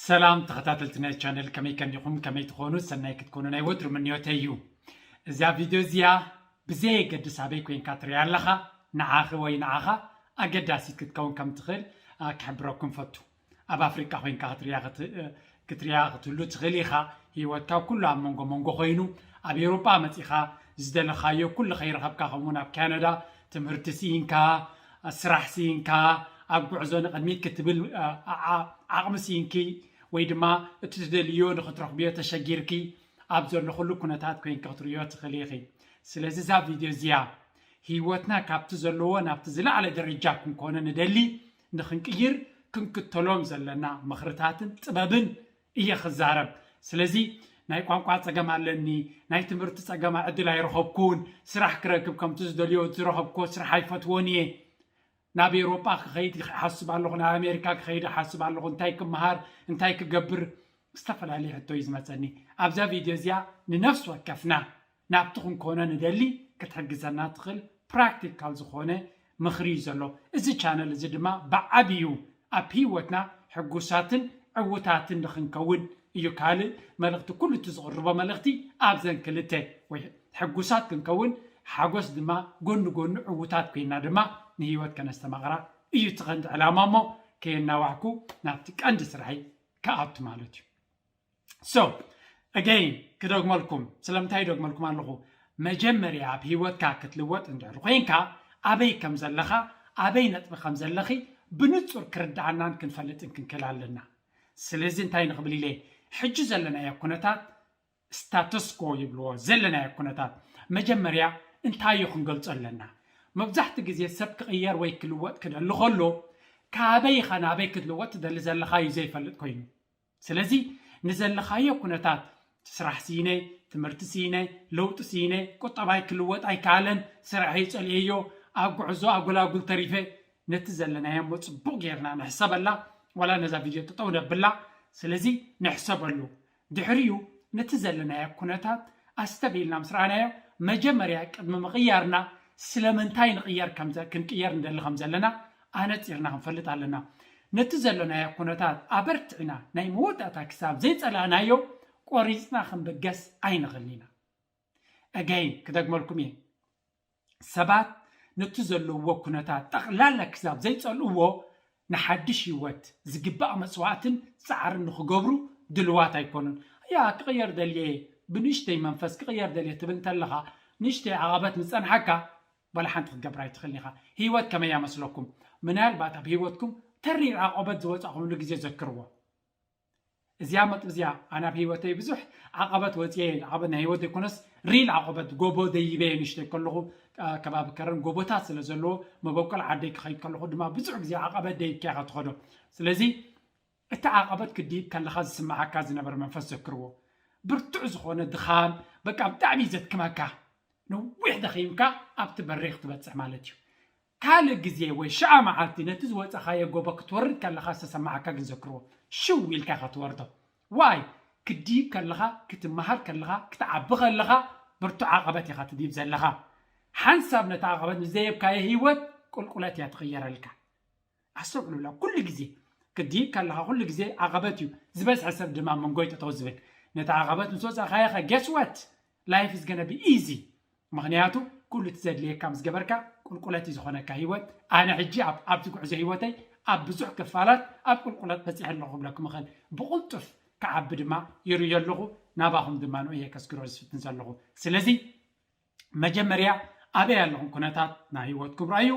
ሰላም ተኸታተልቲ ናይ ቻነል ከመይ ከኒኹም ከመይ ትኾኑ ሰናይ ክትኮኑ ናይ ወትሩ ምንዮተይ እዩ እዛ ቪድዮ እዚኣ ብዘየገድስ ኣበይ ኮንካ ትሪያ ኣለኻ ንዓኺ ወይ ንዓኻ ኣገዳሲት ክትከውን ከም ትኽእል ክሕብረኩም ፈቱ ኣብ ኣፍሪቃ ኮንካ ክትሪያ ክትሪያ ክትህሉ ትኽእል ኢኻ ሂወትካ ኩሉ ኣብ መንጎ መንጎ ኮይኑ ኣብ ኤውሮጳ መጺኻ ዝደለኻዮ ኩሉ ከይረኸብካ ከምኡውን ኣብ ካናዳ ትምህርቲ ስኢንካ ስራሕ ስኢንካ ኣብ ጉዕዞ ንቕድሚት ክትብል ዓቕሚ ስኢንኪ ወይ ድማ እቲ ትደልይዮ ንኽትረኽብዮ ተሸጊርኪ ኣብ ዘለኹሉ ኩነታት ኮይንኪ ክትርእዮ ትኽእሊ ኢኺ። ስለዚ እዛ ቪድዮ እዚኣ ህይወትና ካብቲ ዘለዎ ናብቲ ዝለዓለ ደረጃ ክንኮኖ ንደሊ ንኽንቅይር ክንክተሎም ዘለና ምኽርታትን ጥበብን እየ ክዛረብ ስለዚ ናይ ቋንቋ ጸገም ኣለኒ ናይ ትምህርቲ ጸገማ ዕድል ኣይረኸብኩን ስራሕ ክረክብ ከምቲ ዝደልዮ ዝረኸብክዎ ስራሕ ኣይፈትዎን እየ ናብ ኤሮጳ ክኸይድ ይሓስብ ኣለኹ ናብ ኣሜሪካ ክኸይድ ይሓስብ ኣለኹ እንታይ ክመሃር እንታይ ክገብር ዝተፈላለየ ሕቶ እዩ ዝመጸኒ ኣብዛ ቪድዮ እዚኣ ንነፍሲ ወከፍና ናብቲ ክንኮኖ ንደሊ ክትሕግዘና ትኽል ፕራክቲካል ዝኾነ ምኽሪ እዩ ዘሎ እዚ ቻነል እዚ ድማ ብዓብዩ ኣብ ሂወትና ሕጉሳትን ዕውታትን ንኽንከውን እዩ ካልእ መልእኽቲ ኩሉ እቲ ዝቕርቦ መልእኽቲ ኣብዘን ክልተ ወይ ሕጉሳት ክንከውን ሓጎስ ድማ ጎኒ ጎኑ ዕውታት ኮይና ድማ ንሂወት ከነስተማቕራ እዩ እቲ ቀንዲ ዕላማ እሞ ከየናዋሕኩ ናብቲ ቀንዲ ስራሕይ ክኣቱ ማለት እዩ። ሶ ኣገይን ክደግመልኩም ስለምንታይ ይደግመልኩም ኣለኹ መጀመርያ ኣብ ሂወትካ ክትልወጥ እንድሕር ኮይንካ ኣበይ ከም ዘለኻ ኣበይ ነጥቢ ከም ዘለኺ ብንጹር ክርድኣናን ክንፈልጥን ክንክእል ኣለና ስለዚ እንታይ ንኽብል ኢለ ሕጂ ዘለናዮ ኩነታት ስታተስኮ ይብልዎ ዘለናዮ ኩነታት መጀመርያ እንታይ እዩ ክንገልጾ ኣለና መብዛሕትኡ ግዜ ሰብ ክቕየር ወይ ክልወጥ ክደሊ ከሎ ካበይ ኢኻ ናበይ ክትልወጥ ትደሊ ዘለኻ እዩ ዘይፈልጥ ኮይኑ ስለዚ ንዘለኻዮ ኩነታት፣ ስራሕ ስኢነ፣ ትምህርቲ ስኢነ፣ ለውጢ ስኢነ፣ ቁጠባይ ክልወጥ ኣይከኣለን፣ ስርሐይ ጸሊኤዮ፣ ኣብ ጉዕዞ ኣጎላጉል ተሪፈ፣ ነቲ ዘለናዮ'ሞ ጽቡቕ ጌርና ንሕሰበላ፣ ዋላ ነዛ ቪድዮ ጠጠው ነብላ፣ ስለዚ ንሕሰበሉ፣ ድሕሪኡ ነቲ ዘለናዮ ኩነታት ኣስተብሂልና ምስ ረኣናዮ፣ መጀመርያ ቅድሚ ምቕያርና ስለምንታይ ንቕየር ክንቅየር ንደሊ ከምዘለና ኣነጺርና ክንፈልጥ ኣለና። ነቲ ዘሎናዮ ኩነታት ኣበርቲዕና ናይ መወዳእታ ክሳብ ዘይጸላእናዮ ቆሪጽና ክንብገስ ኣይንኽልን ኢና። Again ክደግመልኩም እየ ሰባት ነቲ ዘለውዎ ኩነታት ጠቕላላ ክሳብ ዘይጸልእዎ ንሓድሽ ህይወት ዝግባእ መስዋእትን ጻዕርን ንኽገብሩ ድልዋት ኣይኮኑን። ያ ክቕየር ደልየ እየ ብንእሽተይ መንፈስ ክቕየር ደልየ ትብል እንተለኻ ንእሽተይ ዓቐበት ምስ ጸንሓካ ዋላ ሓንቲ ክትገብራ ኣይትኽእልን ኢኻ። ህይወት ከመይ እያ መስለኩም? ምናልባት ኣብ ህይወትኩም ተሪር ዓቐበት ዝወጻእኹምሉ ግዜ ዘክርዎ። እዚኣ መጥቢ እዚኣ ኣነ ኣብ ህይወተይ ብዙሕ ዓቐበት ወጽየ እየ፣ ዓቐበት ናይ ህይወት ዘይኮነስ ሪል ዓቐበት ጎቦ ደይበ እየ ንእሽተይ ከለኹ ከባቢ ከረን ጎቦታት ስለ ዘለዎ መበቆል ዓደይ ክኸይድ ከለኹ ድማ ብዙሕ ግዜ ዓቐበት ደይብካ ኢኻ ትኸዶ። ስለዚ እቲ ዓቐበት ክትድይብ ከለኻ ዝስምዓካ ዝነበረ መንፈስ ዘክርዎ። ብርቱዕ ዝኾነ ድኻም፣ በቃ ብጣዕሚ እዩ ዘድክመካ። ነዊሕ ደኺምካ ኣብቲ በሪኽ ትበጽሕ ማለት እዩ። ካልእ ግዜ ወይ ሽዓ መዓልቲ ነቲ ዝወጸኻዮ ጎቦ ክትወርድ ከለኻ ዝተሰምዓካ ግን ዘክርዎ። ሽው ኢልካ ኢኻ ትወርዶ። ዋይ! ክትድይብ ከለኻ፣ ክትመሃር ከለኻ፣ ክትዓቢ ከለኻ ብርቱዕ ዓቐበት ኢኻ ትድይብ ዘለኻ። ሓንሳብ ነቲ ዓቐበት ምስ ደየብካዮ ህይወት ቁልቁለት እያ ትቕየረልካ። ኣስተውዕሉላ ኩሉ ግዜ ክትድይብ ከለኻ ኩሉ ግዜ ዓቐበት እዩ ዝበዝሐ ሰብ ድማ ኣብ መንጎ እዩ ጠጠው ዝብል ነቲ ዓቐበት ምስ ወጻእካዮኸ guess what life is gonna be easy ምኽንያቱ ኩሉ እቲ ዘድልየካ ምስ ገበርካ ቁልቁለት እዩ ዝኾነካ ህይወት ኣነ ሕጂ ኣብ ኣብዚ ጉዕዞ ህይወተይ ኣብ ብዙሕ ክፋላት ኣብ ቁልቁለት በጺሐ ኣለኹ ክብለኩም እኽእል ብቕልጡፍ ክዓቢ ድማ ይርእዮ ኣለኹ ናባኹም ድማ ንኡ እየ ከስግሮ ዝፍትን ዘለኹ ስለዚ መጀመርያ ኣበይ ኣለኹም ኩነታት ናይ ህይወትኩም ርኣዩ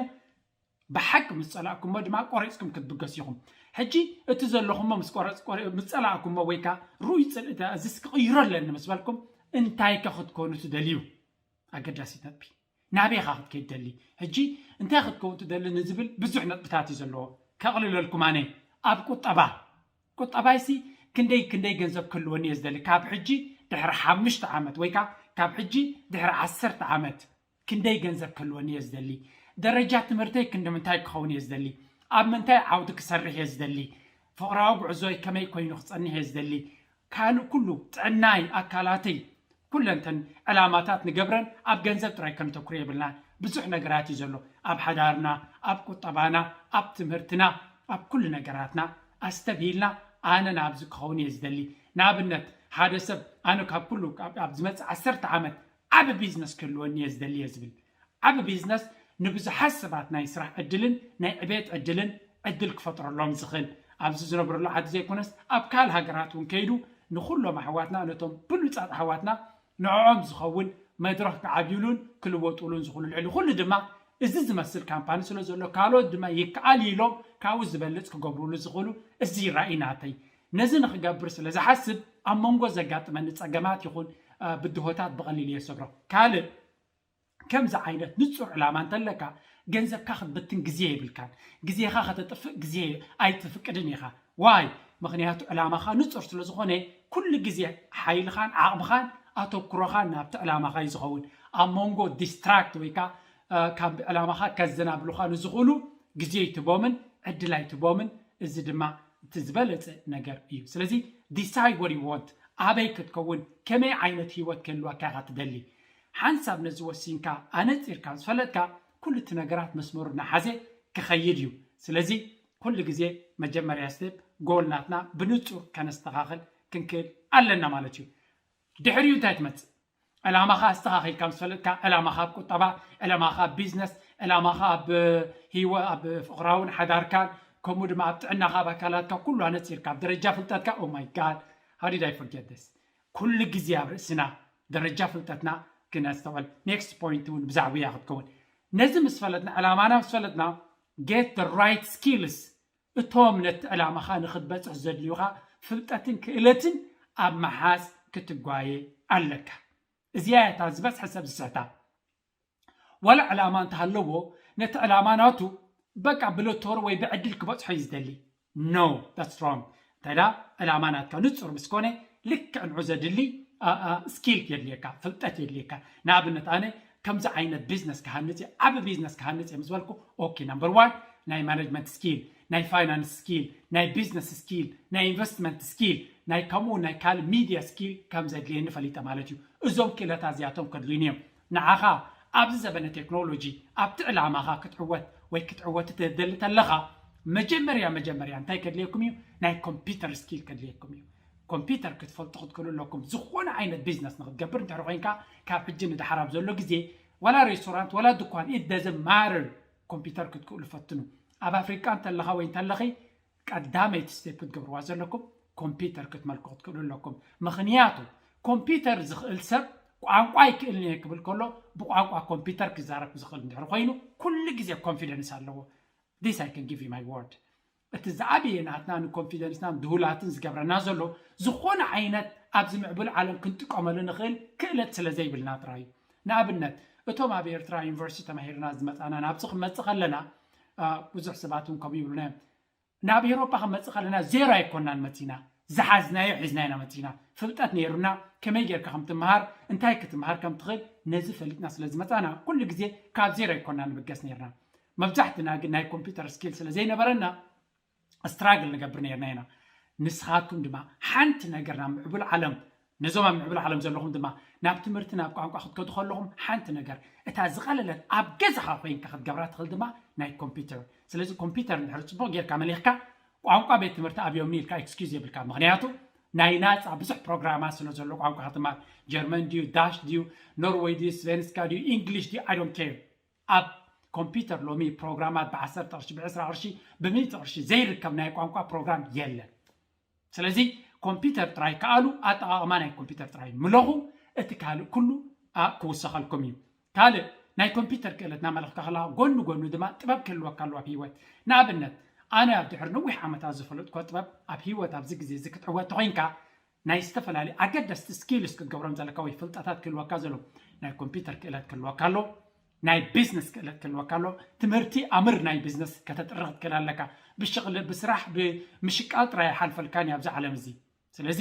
ብሓቂ ምስ ጸላእኩሞ ድማ ቆሪጽኩም ክትብገሱ ኢኹም። ሕጂ እቲ ዘለኹሞ ምስ ቆረጽ ምስ ጸላእኩሞ ወይ ከኣ ርኡይ ጽልኢ እንተ እዝስ ክቕይሮ ኣለኒ ምስ በልኩም እንታይከ ክትኮኑ ትደልዩ? ኣገዳሲት ነጥቢ። ናበይ ኢኻ ክትከይድ ትደሊ? ሕጂ እንታይ ክትከውን ትደሊ ንዝብል ብዙሕ ነጥብታት እዩ ዘለዎ። ከቕልለልኩም ኣነ ኣብ ቁጠባ ቁጠባይሲ ክንደይ ክንደይ ገንዘብ ክህልወኒ እየ ዝደሊ ካብ ሕጂ ድሕሪ ሓምሽተ ዓመት ወይ ከኣ ካብ ሕጂ ድሕሪ ዓሰርተ ዓመት ክንደይ ገንዘብ ክህልወኒ እየ ዝደሊ? ደረጃ ትምህርተይ ክንዲምንታይ ክኸውን እየ ዝደሊ? ኣብ ምንታይ ዓውዲ ክሰርሕ እየ ዝደሊ? ፍቕራዊ ጉዕዞይ ከመይ ኮይኑ ክጸንሕ እየ ዝደሊ? ካልእ ኩሉ፣ ጥዕናይ፣ ኣካላተይ፣ ኩለን እተን ዕላማታት ንገብረን ኣብ ገንዘብ ጥራይ ከነተኩር የብልናን። ብዙሕ ነገራት እዩ ዘሎ። ኣብ ሓዳርና፣ ኣብ ቁጠባና፣ ኣብ ትምህርትና፣ ኣብ ኩሉ ነገራትና ኣስተብሂልና ኣነ ናብዚ ክኸውን እየ ዝደሊ። ንኣብነት ሓደ ሰብ ኣነ ካብ ኩሉ ኣብ ዝመጽእ ዓሰርተ ዓመት ዓቢ ቢዝነስ ክህልወኒ እየ ዝደሊ'የ ዝብል። ዓቢ ቢዝነስ ንብዙሓት ሰባት ናይ ስራሕ ዕድልን ናይ ዕቤት ዕድልን ዕድል ክፈጥረሎም ዝኽል ኣብዚ ዝነብረሉ ዓዲ ዘይኮነስ ኣብ ካል ሃገራት እውን ከይዱ ንኹሎም ኣሕዋትና ነቶም ብሉጻት ኣሕዋትና ንዕዖም ዝኸውን መድረኽ ክዓብዩሉን ክልወጡሉን ዝኽሉ ልዕሊ ኹሉ ድማ እዚ ዝመስል ካምፓኒ ስለ ዘሎ ካልኦት ድማ ይከኣል እዩ ኢሎም ካብኡ ዝበልጽ ክገብሩሉ ዝኽሉ እዚ ራኢ ናተይ ነዚ ንኽገብር ስለ ዝሓስብ ኣብ መንጎ ዘጋጥመኒ ጸገማት ይኹን ብድሆታት ብቐሊሉ እየ ዝሰግሮ። ካልእ ከምዚ ዓይነት ንጹር ዕላማ እንተለካ ገንዘብካ ክትብትን ግዜ የብልካን። ግዜኻ ከተጥፍእ ግዜ ኣይትፍቅድን ኢኻ። ዋይ? ምኽንያቱ ዕላማኻ ንጹር ስለ ዝኾነ ኩሉ ግዜ ሓይልኻን ዓቕምኻን ኣተኩሮኻን ናብቲ ዕላማኻ እዩ ዝኸውን። ኣብ መንጎ ዲስትራክት ወይ ከኣ ካብ ዕላማኻ ከዘናብሉኻ ንዝኽእሉ ግዜ ኣይትህቦምን ዕድል ኣይትህቦምን እዚ ድማ እቲ ዝበለጸ ነገር እዩ ስለዚ ዲሳይድ ዋት ዩ ዋንት ኣበይ ክትከውን ከመይ ዓይነት ሂወት ክህልወካ ኢኻ ትደሊ ሓንሳብ ነዚ ወሲንካ ኣነጺርካ ዝፈለጥካ ኩሉ እቲ ነገራት መስመሩ ናሓዘ ክኸይድ እዩ ስለዚ ኩሉ ግዜ መጀመርያ ስቴፕ ጎል ናትና ብንጹር ከነስተኻኽል ክንክእል ኣለና ማለት እዩ ድሕሪኡ እንታይ ትመጽእ ዕላማኻ ኣስተኻኺልካ ምስ ፈለጥካ፣ ዕላማኻ ኣብ ቁጠባ፣ ዕላማኻ ኣብ ቢዝነስ፣ ዕላማኻ ኣብ ህይወ ኣብ ፍቕራውን ሓዳርካን ከምኡ ድማ ኣብ ጥዕናኻ ኣብ ኣካላትካ ኩሉ ኣነጺርካ ኣብ ደረጃ ፍልጠትካ ኦ ማይ ጋድ ሃው ዲድ ኣይ ፎርጌት ዚስ ኩሉ ግዜ ኣብ ርእስና ደረጃ ፍልጠትና ክነስተውዕል ኔክስት ፖይንት እውን ብዛዕባ እያ ክትከውን ነዚ ምስ ፈለጥና ዕላማና ምስ ፈለጥና ጌት ራይት ስኪልስ እቶም ነቲ ዕላማኻ ንኽትበጽሕ ዘድልዩኻ ፍልጠትን ክእለትን ኣብ ምሓዝ ክትጓየ ኣለካ። እዚኣ እያ እታ ዝበዝሐ ሰብ ዝስሕታ። ዋላ ዕላማ እንተሃለዎ ነቲ ዕላማ ናቱ በቃ ብሎቶሪ ወይ ብዕድል ክበጽሖ እዩ ዝደሊ። No! That's wrong! እንተድኣ ዕላማ ናትካ ንጹር ምስ ኮነ ልክዕ ንዑ ዘድሊ Skill የድልየካ፣ ፍልጠት የድልየካ። ንኣብነት ኣነ ከምዚ ዓይነት ቢዝነስ ክሃንጽ እየ ዓቢ ቢዝነስ ክሃንጽ እየ ምስ በልኩ ኦኪ ናምበር ዋን ናይ ማነጅመንት ስኪል ናይ ፋይናንስ ስኪል ናይ ቢዝነስ ስኪል ናይ ኢንቨስትመንት ስኪል ናይ ከምኡ ናይ ካልእ ሚድያ ስኪል ከም ዘድልየኒ ፈሊጠ ማለት እዩ እዞም ክእለታት እዚኣቶም ከድልዩኒ እዮም ንዓኻ ኣብዚ ዘበነ ቴክኖሎጂ ኣብቲ ዕላማኻ ክትዕወት ወይ ክትዕወቲ ትደሊ ተለኻ መጀመርያ መጀመርያ እንታይ ከድልየኩም እዩ ናይ ኮምፒተር ስኪል ከድልየኩም እዩ ኮምፒተር ክትፈልጡ ክትክእሉ ኣለኩም ዝኾነ ዓይነት ቢዝነስ ንክትገብር እንድሕር ኮይንካ ካብ ሕጂ ንድሓር ኣብ ዘሎ ግዜ ዋላ ሬስቶራንት ዋላ ድኳን ኢት ደዝን ማረር ኮምፒተር ክትክእሉ ፈትኑ ኣብ ኣፍሪቃ እንተለኻ ወይ እንተለኺ ቀዳመይቲ ስቴፕ ክትገብርዋ ዘለኩም ኮምፒተር ክትመልኩ ክትክእሉ ኣለኩም ምክንያቱ ኮምፒተር ዝኽእል ሰብ ቋንቋ ይክእልን እየ ክብል ከሎ ብቋንቋ ኮምፒተር ክዛረብ ዝኽእል እንድሕር ኮይኑ ኩሉ ግዜ ኮንፊደንስ ኣለዎ ዲስ ኣይ ከን ጊቭ ዩ ማይ ወርድ እቲ ዝዓበየ ናትና ንኮንፊደንስናን ድሁላትን ዝገብረና ዘሎ ዝኾነ ዓይነት ኣብዚ ምዕቡል ዓለም ክንጥቀመሉ ንኽእል ክእለት ስለ ዘይብልና ጥራይ እዩ። ንኣብነት እቶም ኣብ ኤርትራ ዩኒቨርሲቲ ተማሂርና ዝመጻና ናብዚ ክንመጽእ ከለና ብዙሕ ሰባት እውን ከምኡ ይብሉና እዮም ናብ ኤሮፓ ክንመጽእ ከለና ዜሮ ኣይኮናን መጺና ዝሓዝናዮ ሒዝና ኢና መጺና ፍልጠት ነይሩና ከመይ ጌርካ ከም ትምሃር እንታይ ክትምሃር ከም ትኽእል ነዚ ፈሊጥና ስለ ዝመጻና ኩሉ ግዜ ካብ ዜሮ ኣይኮና ንብገስ ነይርና መብዛሕትና ግን ናይ ኮምፒተር ስኪል ስለ ዘይነበረና ስትራግል ንገብር ነርና ኢና ንስኻትኩም ድማ ሓንቲ ነገር ናብ ምዕቡል ዓለም ነዞም ኣብ ምዕቡል ዓለም ዘለኹም ድማ ናብ ትምህርቲ ናብ ቋንቋ ክትከዱ ከለኹም ሓንቲ ነገር እታ ዝቐለለት ኣብ ገዛኻ ኮይንካ ክትገብራ ትኽእል ድማ ናይ ኮምፒተር ስለዚ ኮምፒተር እንድሕሪ ፅቡቕ ጌርካ መሊኽካ ቋንቋ ቤት ትምህርቲ ኣብዮምኒ ኢልካ ኤክስኪዝ የብልካ ምክንያቱ ናይ ናፃ ብዙሕ ፕሮግራማት ስለ ዘሎ ቋንቋ ክትማር ጀርመን ድዩ ዳሽ ድዩ ኖርወይ ድዩ ስቬንስካ ድዩ ኢንግሊሽ ድዩ ኣይ ዶንት ኬር ኣብ ኮምፒተር ሎሚ ፕሮግራማት ብዓሰርተ ቅርሺ ብዕስራ ቅርሺ ብሚእቲ ቅርሺ ዘይርከብ ናይ ቋንቋ ፕሮግራም የለን ስለዚ ኮምፒተር ጥራይ ከኣሉ ኣጠቓቕማ ናይ ኮምፒተር ጥራይ ምለኹ እቲ ካልእ ኩሉ ክውሰኸልኩም እዩ ካልእ ናይ ኮምፒተር ክእለት ናመለኽካ ከለኻ ጎኑ ጎኑ ድማ ጥበብ ክህልወካ ኣለዎ ኣብ ሂወት ንኣብነት ኣነ ኣብ ድሕሪ ነዊሕ ዓመታት ዝፈለጥኮ ጥበብ ኣብ ሂወት ኣብዚ ግዜ እዚ ክትዕወት ተኾይንካ ናይ ዝተፈላለዩ ኣገደስቲ ስኪልስ ክትገብሮም ዘለካ ወይ ፍልጠታት ክህልወካ ዘለዎም ናይ ኮምፒተር ክእለት ክህልወካ ኣለዎ፣ ናይ ቢዝነስ ክእለት ክህልወካ ኣለዎ፣ ትምህርቲ ኣምር ናይ ቢዝነስ ከተጥሪ ክትክእል ኣለካ፣ ብሽቕሊ ብስራሕ ብምሽቃል ጥራይ ኣይሓልፈልካን እዩ ኣብዚ ዓለም እዚ ስለዚ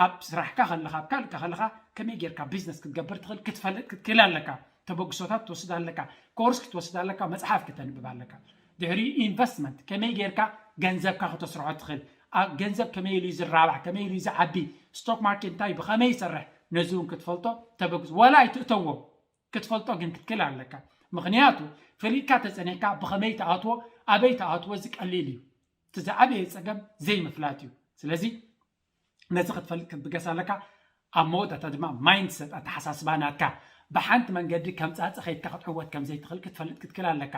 ኣብ ስራሕካ ከለኻ ኣብ ካልእካ ከለኻ ከመይ ጌርካ ቢዝነስ ክትገብር ትኽእል ክትፈልጥ ክትክእል ኣለካ፣ ተበግሶታት ክትወስድ ኣለካ፣ ኮርስ ክትወስድ ኣለካ፣ መጽሓፍ ክተንብብ ኣለካ። ድሕሪኡ ኢንቨስትመንት ከመይ ጌርካ ገንዘብካ ክተስርሖ ትኽእል፣ ኣብ ገንዘብ ከመይ ኢሉ እዩ ዝራባሕ፣ ከመይ ኢሉ እዩ ዝዓቢ፣ ስቶክ ማርኬት እንታይ እዩ ብኸመይ ይሰርሕ ነዚ እውን ክትፈልጦ ተበግሶ ዋላ ኣይትእተዎ ክትፈልጦ ግን ክትክል ኣለካ ምኽንያቱ ፈሊጥካ ተጸኒሕካ ብኸመይ ትኣትዎ ኣበይ ትኣትዎ እዚ ቀሊል እዩ እቲ ዝዓበየ ጸገም ዘይምፍላጥ እዩ ስለዚ ነዚ ክትፈልጥ ክትብገስ ኣለካ ኣብ መወዳእታ ድማ ማይንድሰት ኣተሓሳስባ ናትካ ብሓንቲ መንገዲ ከም ጻጸ ከይድካ ክትዕወት ከም ዘይትኽእል ክትፈልጥ ክትክል ኣለካ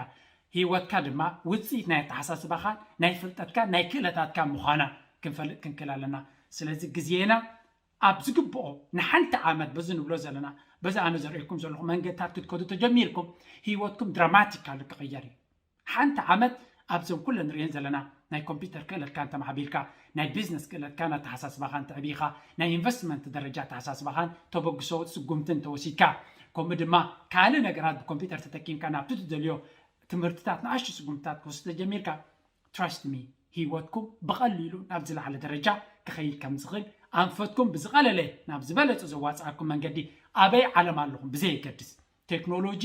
ሂወትካ ድማ ውጽኢት ናይ ኣተሓሳስባኻን ናይ ፍልጠትካን ናይ ክእለታትካን ምዃና ክንፈልጥ ክንክል ኣለና ስለዚ ግዜና ኣብ ዝግብኦ ንሓንቲ ዓመት በዚ ንብሎ ዘለና በዚ ኣነ ዘርእየኩም ዘለኹ መንገድታት ክትከዱ ተጀሚርኩም ሂወትኩም ድራማቲካሊ ክቕየር እዩ ሓንቲ ዓመት ኣብዘን ኩለን ንርእየን ዘለና ናይ ኮምፒተር ክእለትካ እንተማዕቢልካ፣ ናይ ቢዝነስ ክእለትካን ኣተሓሳስባኻን ተዕቢኻ፣ ናይ ኢንቨስትመንት ደረጃ ኣተሓሳስባኻን ተበግሶ ስጉምትን ተወሲድካ፣ ከምኡ ድማ ካልእ ነገራት ብኮምፒተር ተጠቂምካ ናብቲ ትደልዮ ትምህርትታት ንኣሽቱ ስጉምትታት ክትወስድ ተጀሚርካ፣ Trust me ህይወትኩም ብቐሊሉ ናብ ዝለዓለ ደረጃ ክኸይድ ከምዝኽእል፣ ኣንፈትኩም ብዝቐለለ ናብ ዝበለጸ ዘዋጽኣኩም መንገዲ ኣበይ ዓለም ኣለኹም ብዘየገድስ፣ ቴክኖሎጂ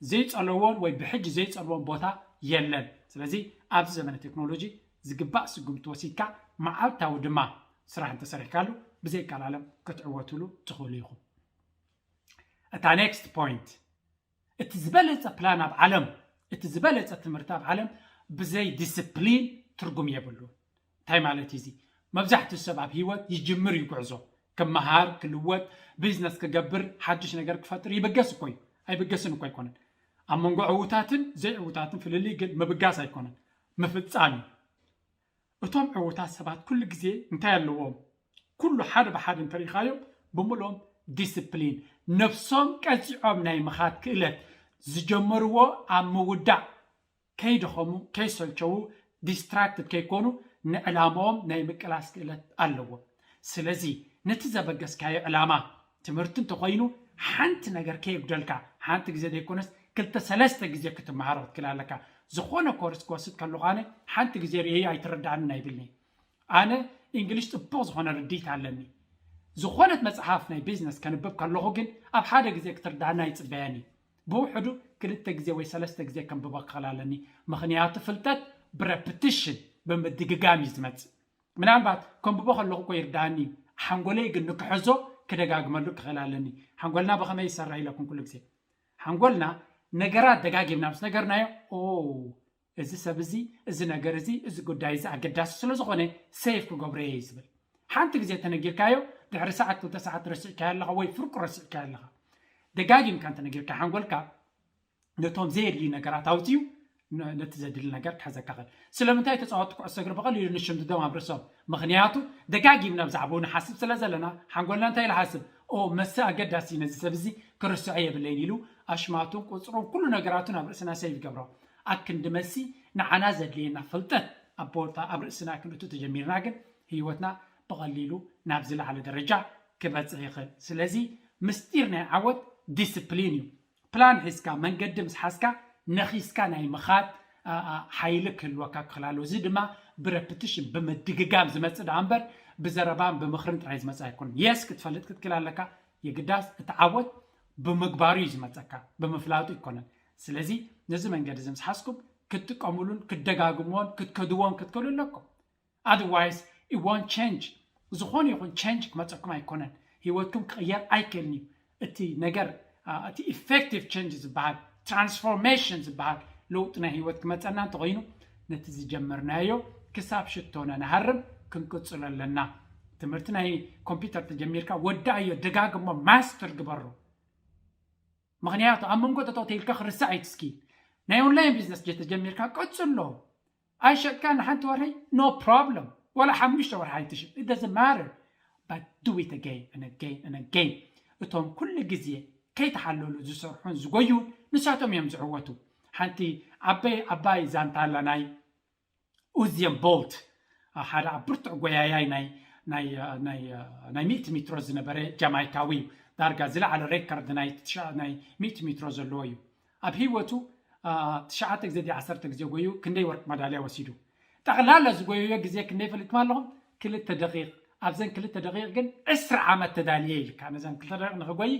ዘይጸለዎን ወይ ብሕጂ ዘይጸልዎን ቦታ የለን። ስለዚ ኣብዚ ዘመነ ቴክኖሎጂ ዝግባእ ስጉምቲ ወሲድካ መዓልታዊ ድማ ስራሕ እንተሰሪሕካሉ ብዘይቀላለም ክትዕወትሉ ትኽእሉ ኢኹም። እታ ኔክስት ፖይንት እቲ ዝበለጸ ፕላን ኣብ ዓለም እቲ ዝበለጸ ትምህርቲ ኣብ ዓለም ብዘይ ዲስፕሊን ትርጉም የብሉን። እንታይ ማለት እዩ እዚ? መብዛሕትኡ ሰብ ኣብ ህይወት ይጅምር እዩ ጉዕዞ። ክመሃር፣ ክልወጥ፣ ቢዝነስ ክገብር፣ ሓድሽ ነገር ክፈጥር ይብገስ እኮ እዩ። ኣይብገስን እኮ ኣይኮነን። ኣብ መንጎ ዕዉታትን ዘይዕዉታትን ፍልልይ ግን ምብጋስ ኣይኮነን፣ ምፍጻም እዩ። እቶም ዕዉታት ሰባት ኩሉ ግዜ እንታይ ኣለዎም? ኩሉ ሓደ ብሓደ እንተርኢኻዮም ብምልኦም ዲስፕሊን፣ ነብሶም ቀጺዖም ናይ ምኻድ ክእለት፣ ዝጀመርዎ ኣብ ምውዳእ ከይደኸሙ ከይሰልቸዉ ዲስትራክትድ ከይኮኑ ንዕላምኦም ናይ ምቅላስ ክእለት ኣለዎም። ስለዚ ነቲ ዘበገስካዮ ዕላማ ትምህርቲ እንተኾይኑ ሓንቲ ነገር ከየጉደልካ ሓንቲ ግዜ ዘይኮነስ ክልተ ሰለስተ ግዜ ክትመሃሮ ክትክል ኣለካ። ዝኾነ ኮርስ ክወስድ ከለኹ ኣነ ሓንቲ ግዜ ርእየዮ ኣይትረድኣንን ኣይብልን'የ። ኣነ እንግሊሽ ጽቡቕ ዝኾነ ርድኢት ኣለኒ። ዝኾነት መጽሓፍ ናይ ቢዝነስ ከንብብ ከለኹ ግን ኣብ ሓደ ግዜ ክትርድኣኒ ኣይጽበያን እየ። ብውሕዱ ክልተ ግዜ ወይ ሰለስተ ግዜ ከንብቦ ክኽእል ኣለኒ ምኽንያቱ ፍልጠት ብረፕትሽን ብምድግጋም እዩ ዝመጽእ ምናልባት ከንብቦ ከለኹ እኮ ይርድኣኒ እዩ ሓንጎለይ ግን ንክሕዞ ክደጋግመሉ ክኽእል ኣለኒ ሓንጎልና ብኸመይ ይሰርሕ ኢለኩም ኩሉ ግዜ ሓንጎልና ነገራት ደጋጊምና ምስ ነገርናዮ ኦ እዚ ሰብ እዚ፣ እዚ ነገር እዚ፣ እዚ ጉዳይ እዚ ኣገዳሲ ስለ ዝኾነ ሴቭ ክገብሮ እየ እዩ ዝብል። ሓንቲ ግዜ እንተነጊርካዮ ድሕሪ ሰዓት ክልተ ሰዓት ረሲዕካዮ ኣለኻ ወይ ፍርቁ ረሲዕካዮ ኣለኻ። ደጋጊምካ እንተነጊርካ ሓንጎልካ ነቶም ዘየድልዩ ነገራት ኣውጺኡ ነ- ነቲ ዘድሊ ነገር ክሕዘካ ይኽእል። ስለምንታይ ተጻወትቲ ኩዕሶ እግሪ ብቐሊሉ ንሽምድዶም ኣብ ርእሶም? ምኽንያቱ ደጋጊምና ብዛዕባኡ ንሓስብ ስለ ዘለና ሓንጎልና እንታይ ኢሉ ይሓስብ? ኦ መሰ ኣገዳሲ እዩ ነዚ ሰብ እዚ ክርስዖ የብለይን ኢሉ ኣሽማቱን ቁጽሩን ኩሉ ነገራቱን ኣብ ርእስና ሴቭ ይገብሮ። ኣክንዲ መልሲ ንዓና ዘድልየና ፍልጠት ኣብ ቦታ ኣብ ርእስና ክንእቱ ተጀሚርና ግን ህይወትና ብቐሊሉ ናብ ዝለዓለ ደረጃ ክበጽሕ ይኽእል። ስለዚ ምስጢር ናይ ዓወት ዲስፕሊን እዩ። ፕላን ሒዝካ መንገዲ ምስ ሓዝካ ነኺስካ ናይ ምኻድ ሓይሊ ክህልወካ ክኽል ኣለዎ። እዚ ድማ ብረፕትሽን ብምድግጋም ዝመጽእ ደኣ እምበር ብዘረባን ብምኽርን ጥራይ ዝመጽእ ኣይኮነን። የስ ክትፈልጥ ክትክል ኣለካ የግዳስ እቲ ዓወት ብምግባሩ እዩ ዝመጸካ ብምፍላጡ ኣይኮነን። ስለዚ ነዚ መንገዲ እዚ ምስ ሓዝኩም ክትጥቀምሉን ክትደጋግምዎን ክትከድዎን ክትክእሉ ኣለኩም ኣድዋይስ it won't change ዝኾነ ይኹን ቼንጅ ክመፀኩም ኣይኮነን ህይወትኩም ክቕየር ኣይክእልን እዩ እቲ ነገር ኣ፣ እቲ ኢፌክቲቭ ቼንጅ ዝበሃል ትራንስፎርሜሽን ዝበሃል ለውጢ ናይ ህይወት ክመፀና እንተኾይኑ ነቲ ዝጀመርናዮ ክሳብ ሽቶነ ንሃርም ክንቅፅሎ ኣለና ትምህርቲ ናይ ኮምፒውተር ተጀሚርካ ወዳእዮ ደጋግሞ ማስተር ግበሮ ምኽንያቱ ኣብ መንጎ ጠጠው ኢልካ ክርሳዕ እዩ እቲ ስኪል ናይ ኦንላይን ቢዝነስ ጀተጀሚርካ ቀጽሎ ኣይሸጥካ ንሓንቲ ወርሒ ኖ ፕሮብለም ወላ ሓሙሽተ ወርሒ ኣይትሽጥ it doesn't matter but do it again and again and again እቶም ኩሉ ግዜ ከይተሓለሉ ዝሰርሑን ዝጎዩን ንሳቶም እዮም ዝዕወቱ ሓንቲ ዓበይ ዓባይ ዛንታ ኣላ ናይ ኡዝየን ቦልት ሓደ ኣብ ብርቱዕ ጎያያይ ናይ ናይ ሚእቲ ሚትሮ ዝነበረ ጃማይካዊ እዩ ዳርጋ ዝለዓለ ሬከርድ ናይ ናይ ሚእቲ ሚትሮ ዘለዎ እዩ ኣብ ህይወቱ ትሽዓተ ግዜ ድዩ ዓሰርተ ግዜ ጎዩ ክንደይ ወርቂ መዳልያ ወሲዱ ጠቕላላ ዝጎየዮ ግዜ ክንደይ ፈሊጥኩም ኣለኹም ክልተ ደቂቕ ኣብዘን ክልተ ደቂቕ ግን ዕስራ ዓመት ተዳልየ ኢልካ ነዘን ክልተ ደቂቕ ንክጎይ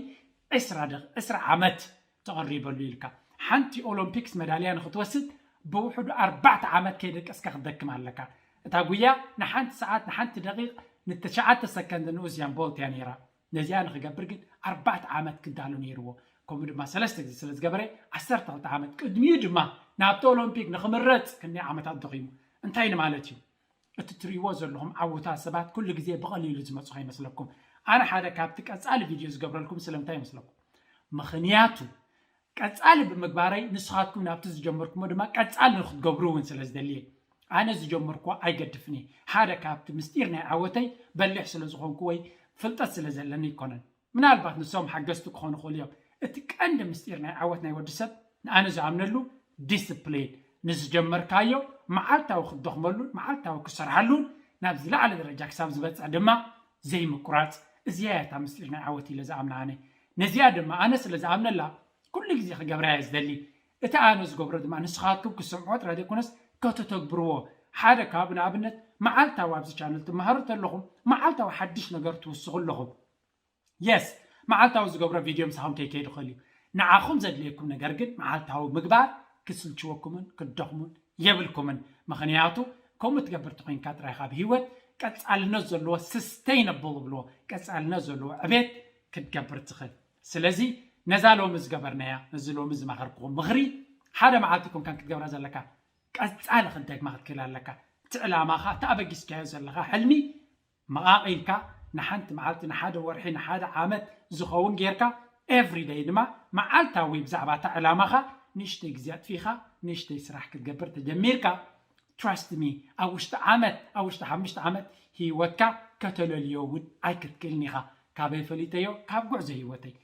ዕስራ ደቂቕ ዕስራ ዓመት ተቐሪበሉ ኢልካ ሓንቲ ኦሎምፒክስ መዳልያ ንኽትወስድ ብውሕዱ ኣርባዕተ ዓመት ከይደቀስካ ክትደክም ኣለካ። እታ ጉያ ንሓንቲ ሰዓት ንሓንቲ ደቒቕ ን ትሽዓተ ሰከንድ ን ኡዝያን ቦልት እያ ነይራ። ነዚኣ ንኽገብር ግን ኣርባዕተ ዓመት ክዳሎ ነይርዎ። ከምኡ ድማ ሰለስተ ግዜ ስለ ዝገበረ ዓሰርተ ክልተ ዓመት ቅድሚኡ ድማ ናብቲ ኦሎምፒክ ንኽምረጽ ክንደይ ዓመታት ደኺሙ። እንታይ ንማለት እዩ? እቲ ትርእይዎ ዘለኹም ዓውታ ሰባት ኩሉ ግዜ ብቐሊሉ ዝመጹ ከይመስለኩም። ኣነ ሓደ ካብቲ ቀጻሊ ቪድዮ ዝገብረልኩም ስለምንታይ ይመስለኩም? ምኽንያቱ ቀጻሊ ብምግባረይ ንስኻትኩም ናብቲ ዝጀመርኩሞ ድማ ቀጻሊ ንክትገብሩ እውን ስለ ዝደሊ እየ። ኣነ ዝጀመርኩዎ ኣይገድፍን እየ። ሓደ ካብቲ ምስጢር ናይ ዓወተይ በሊሕ ስለ ዝኾንኩ ወይ ፍልጠት ስለ ዘለኒ ኣይኮነን። ምናልባት ንሶም ሓገዝቲ ክኾኑ ይኽእሉ እዮም። እቲ ቀንዲ ምስጢር ናይ ዓወት ናይ ወዲ ሰብ ንኣነ ዝኣምነሉ ዲስፕሊን፣ ንዝጀመርካዮ መዓልታዊ ክትደኽመሉን መዓልታዊ ክትሰርሓሉን ናብ ዝለዓለ ደረጃ ክሳብ ዝበጽሕ ድማ ዘይምቁራጽ እዚኣ እያ እታ ምስጢር ናይ ዓወት ኢለ ዝኣምና ኣነ። ነዚኣ ድማ ኣነ ስለ ዝኣምነላ ኩሉ ግዜ ክገብራ እየ ዝደሊ። እቲ ኣነ ዝገብሮ ድማ ንስኻትኩም ክትሰምዕዎ ጥራይ ዘይኮነስ ከተተግብርዎ ሓደ ካብ ንኣብነት መዓልታዊ ኣብዚ ቻነል ትመሃሩ ተለኹም መዓልታዊ ሓድሽ ነገር ትውስኹ ኣለኹም የስ መዓልታዊ ዝገብሮ ቪድዮ ምሳኹም ከይከይድ ይኽእል እዩ ንዓኹም ዘድልየኩም ነገር ግን መዓልታዊ ምግባር ክስልችወኩምን ክትደኽሙን የብልኩምን ምኽንያቱ ከምኡ ትገብር ተኾይንካ ጥራይ ኢኻ ኣብ ህይወት ቀጻልነት ዘለዎ ስስተይነብል ዝብልዎ ቀጻልነት ዘለዎ ዕቤት ክትገብር ትኽእል ስለዚ ነዛ ሎሚ ዝገበርናያ ነዚ ሎሚ ዝመኸርኩኹም ምኽሪ ሓደ መዓልቲ ኮንካን ክትገብራ ዘለካ ቀጻሊ ክትደግማ ክትክእል ኣለካ እቲ ዕላማኻ እቲ ኣበጊስካዮ ዘለኻ ሕልሚ መቓቒልካ ንሓንቲ መዓልቲ ንሓደ ወርሒ ንሓደ ዓመት ዝኸውን ጌርካ ኤቭሪ ደይ ድማ መዓልታዊ ብዛዕባ እታ ዕላማኻ ንእሽተይ ግዜ ኣጥፊኻ ንእሽተይ ስራሕ ክትገብር ተጀሚርካ ትራስት ሚ ኣብ ውሽጢ ዓመት ኣብ ውሽጢ ሓሙሽተ ዓመት ህይወትካ ከተለልዮ እውን ኣይክትክእልን ኢኻ ካበይ ፈሊጠዮ ካብ ጉዕዞ ሂወተይ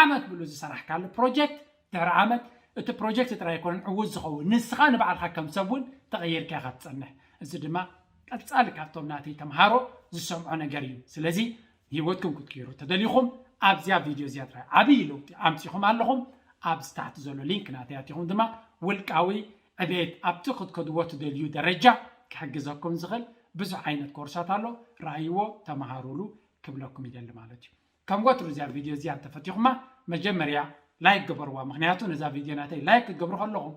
ዓመት ምሉእ ዝሰራሕካሉ ፕሮጀክት ድሕሪ ዓመት እቲ ፕሮጀክት ጥራይ ኣይኮነን ዕዉት ዝኸውን ንስኻ ንባዕልኻ ከም ሰብ እውን ተቐይርካ ኢኻ ትጸንሕ እዚ ድማ ቀጻሊ ካብቶም ናተይ ተምሃሮ ዝሰምዖ ነገር እዩ ስለዚ ሂወትኩም ክትቅይሩ ተደሊኹም ኣብዚያ ቪድዮ እዚኣ ጥራይ ዓብዪ ለውጢ ኣምጺኹም ኣለኹም ኣብ ስታሕቲ ዘሎ ሊንክ ናተይ ኣቲኹም ድማ ውልቃዊ ዕቤት ኣብቲ ክትከድዎ ትደልዩ ደረጃ ክሕግዘኩም ዝኽእል ብዙሕ ዓይነት ኮርሳት ኣሎ ርኣይዎ ተምሃሩሉ ክብለኩም ይደሊ ማለት እዩ ከም ወትሩ እዚኣ ቪድዮ እዚኣ እንተፈቲኹማ መጀመርያ ላይክ ግበርዋ ምክንያቱ ነዛ ቪድዮ ናተይ ላይክ ክገብሩ ከለኹም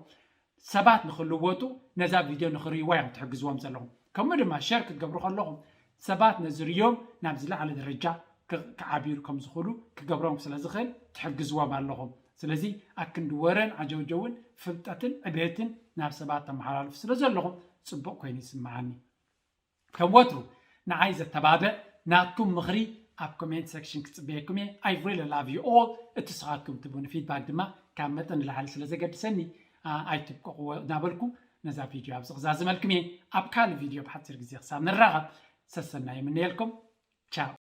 ሰባት ንክልወጡ ነዛ ቪድዮ ንክርእይዋ እዮም ትሕግዝዎም ዘለኹም ከምኡ ድማ ሸር ክትገብሩ ከለኹም ሰባት ነዚ ርዮም ናብ ዝለዓለ ደረጃ ክዓብዩ ከም ዝኽእሉ ክገብሮም ስለ ዝኽእል ትሕግዝዎም ኣለኹም ስለዚ ኣክንዲ ወረን ዓጀውጀውን ፍልጠትን ዕቤትን ናብ ሰባት ተመሓላልፉ ስለ ዘለኹም ፅቡቕ ኮይኑ ይስምዓኒ ከም ወትሩ ንዓይ ዘተባብዕ ናትኩም ምኽሪ ኣብ ኮሜንት ሰክሽን ክጽበየኩም እየ I really love you all እቲ ስኻትኩም ትቡኒ ፊድባክ ድማ ካብ መጠን ንላዕሊ ስለ ዘገድሰኒ ኣይትብቀቕዎ እናበልኩ ነዛ ቪድዮ ኣብዚ ክዛዝመልኩም እየ ኣብ ካልእ ቪድዮ ብሓጺር ግዜ ክሳብ ንራኸብ ሰሰናዩ ይምነየልኩም ቻው